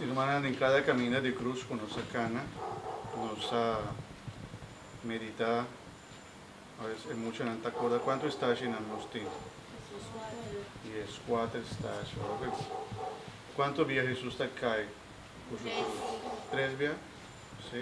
Irmannan, den cada caminda di cruz cu nos a cana, nos a medita, aves e muchanan ta acorda cuantu estacianan nos tin. Y es cuater estacia. Ora cu cuantu bia Jesus ta cay cu su cruz? Tres bia? Si.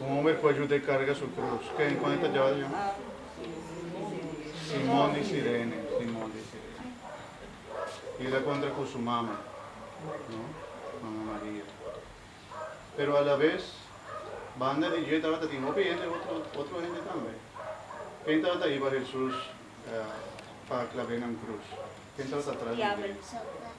Un homber por yuda e carga su cruz. Ken y cuando ta djaba ta yama? Simon di Cirene. Simon di Cirene. Y el a contra cu su mama, no? Mama Maria. Pero a la vez, banda di dje tabata tin hopi hende, otro, otro hende tambe. Ken tabata ahi pa Jesus, eh, pa clab'e nan cruz? Ken tabata atras di dje?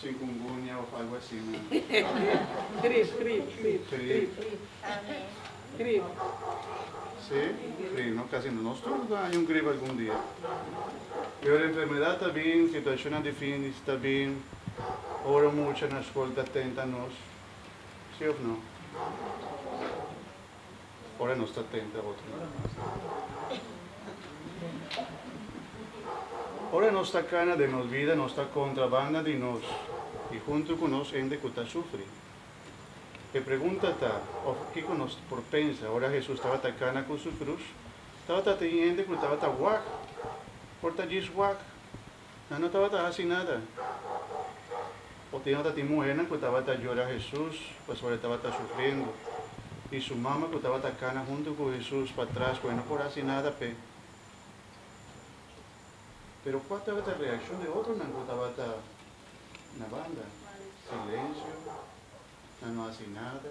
Chikungunya of algo asina. Grip, grip, grip. Grip. Grip. Si, grip. No kasi no. Nos tur ta haña un grip algun dia. Pero enfermedad ta bin, situashonnan difintis ta bin ora mucha na skol ta tenta nos. Si of no? ora nos ta tenta otronan mas di tur. Ora nos ta kana den nos bida, nos ta kontrabanda di nos i huntu ku nos hende ku ta sufri. E pregunta ta, òf kiko nos por pensa, ora Hesus tabata kana ku su krus, tabata tin hende ku tabata wak por ta djis wak Nan no tabata hasi nada. Ote yahora tin muhernan ku tabata yora Hesus pasobra e tabata sufriendo, i su mama ku tabata kana huntu ku Hesus patras ku e no por hasi nada p'e. Pero kua tabata e reakshon di otronan ku tabata na banda? Silensio, nan no hasi nada.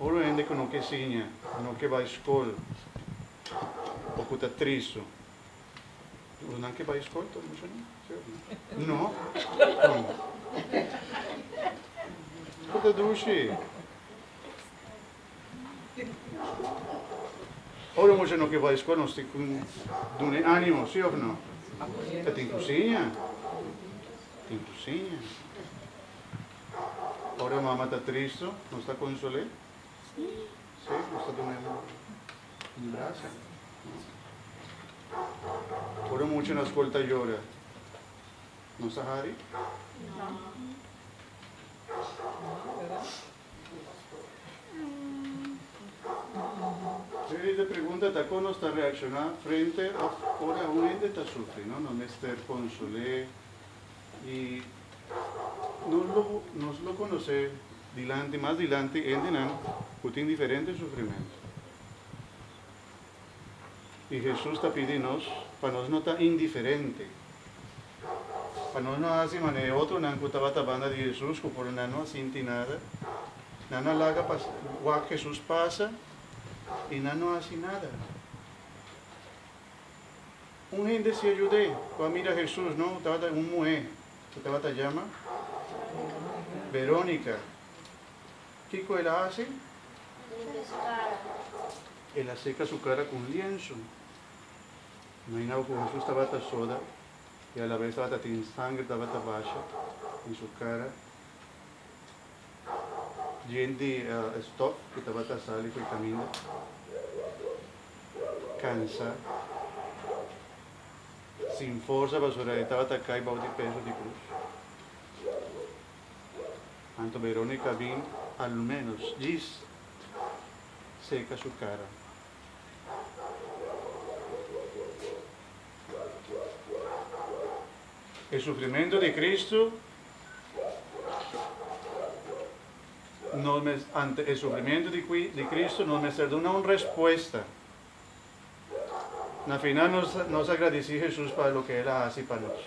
Ora hende ku no ke siña, ku no ke bai skol o ku ta tristu, ora nan ke bai skol tur mucha nan, si òf no? No. Kon? Ku ta dushi? Ora mucha no ke bai skol nos tin ku dun'e animo, si òf no? Ta tin ku siña, tin ku siña. Ora mama ta tristo, nos ta consolé? Sí. Sí, nos ta dun'é un brasa. Ora mucha na school ta yora, nos ta hari? No. Really de pregunta ta con nos ta reacciona frente of ora un hende ta sufri, no? Nos mester consolé. Y nos lo conoce dilanti, mas dilanti, hendenan cu tin diferente sufrimento. Y Jesus ta pidi nos pa nos no ta indiferente, pa nos no haci manera e otronan cu tabata banda di Jesus, cu por nan no a sinti nada. Nan a laga pa wak Jesus pasa y nan no a haci nada. Un hende siña yud'é ku a mira Hesus no tabata un muhé ku tabata yama Verónica. Kiko el a hasi? El a seka su kara ku un liensu. Imagina'bo ku Hesus tabata soda i alabes tabata tin sangri tabata basha den su kara. Djen di e stòf ku tabata sali ku e kaminda kansá, sin forsa pasobra e tabata kai bou di peso di krus. Anto Verónica bin al ménos djis seka su kara. E sufrimentu di Kristu, nos ante e sufrimentu di Kristu nos mester duna un respuesta. Na final nos a gradisí Hesus pa loke el a hasi pa nos.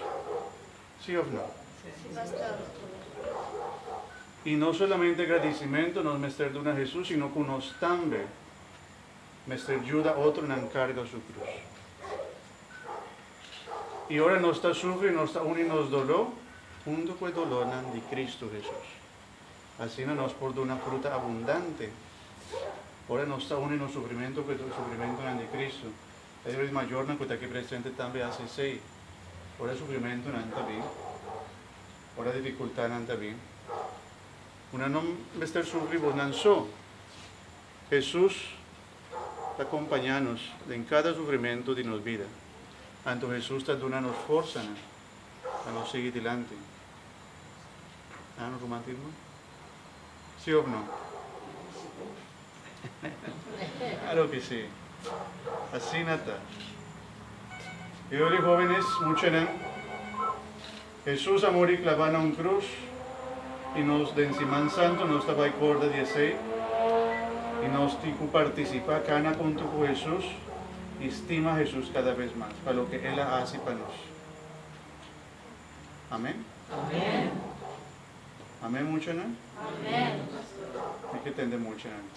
Sí òf no? I no solamente gradisimentu nos mester duna Hesus sino ku nos tambe mester juda otronan karga su krus. I ora nos ta sufri, nos ta uni nos doló huntu ku e dolónan di Kristu Hesus. Asina nos por duna fruta abundante. Ora nos ta uni nos sufrimentu ku e sufrimentunan di Kristu, ta e Bruid Mayornan ku ta aki presente tambe a hasi esei. Ora sufrimentunan ta bin, ora difikultánan ta bin, bo nan no mester sufri bonan so. Hesus. ta kompañá nos den kada sufrimentu di nos bida. Anto Hesus ta duna nos forsanan pa nos sigui dilanti. A un rumantismo? Sí òf no? Klaro ki sí! Asina ta. Biba di Hóvenes, muchanan. Hesus a muri klabá na un krus i nos den Siman Santu nos ta bai korda di esei, i nos tin ku partisipá kana huntu ku Hesus i stima Hesus kada bes mas pa loke el a hasi pa nos. Amen? Amen muchanan? Mi ke tende muchanan.